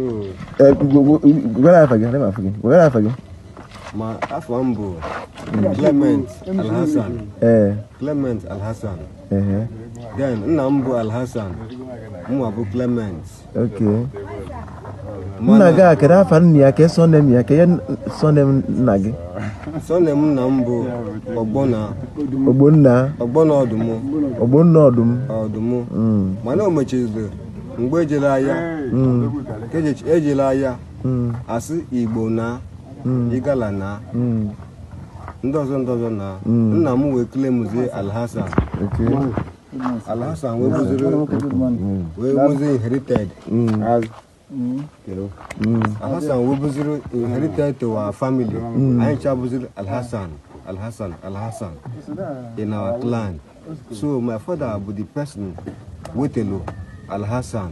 Eh, gwara afa gị adị m afọ gị gwara afa gị ma afa m bụ Clement Alhassan ee Clement Alhassan ehe then nna m bụ Alhassan mụnwa bụ Clement ok nna gị a kedu afa nna ya kee surname ya kee surname nna gị surname nna m bụ Ogbonna ogbonna Ogbonna Ọdụmụ ogbonna ọdụm ọdụmụ Mm. mana o mechaziri mgbe eji alụ agha eji alụ agha asị igbo na igala na ndị ọzọ ndị ọzọ na nna m wee kele mụzie alhassan alhassan wee bụziri wee bụzi inherited alhassan wee bụziri inherited to our family anyị cha bụziri alhassan alhassan alhassan in our clan so my father bụ the person wetelu alhassan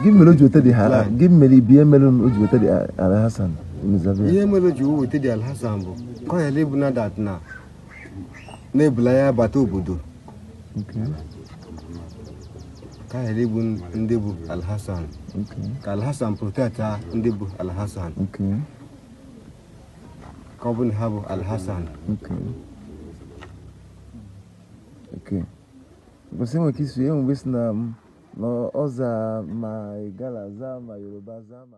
gịnị mere o ji weta the Alhassan gịnị mere ihe mere o ji weta the alhassan nzabe ihe mere o ji wee weta the alhassan bụ ka ọ ghara ịbụ na that na na ebulu aya bata obodo okay ka ọ ghara ịbụ ndị bụ alhassan okay ka alhassan protectia ndị bụ alhassan okay ka ọ bụ na ha bụ alhassan okay Okay. Because enwere ike isi enwe mgbe si na na ọza ma igala za ma yoruba za ma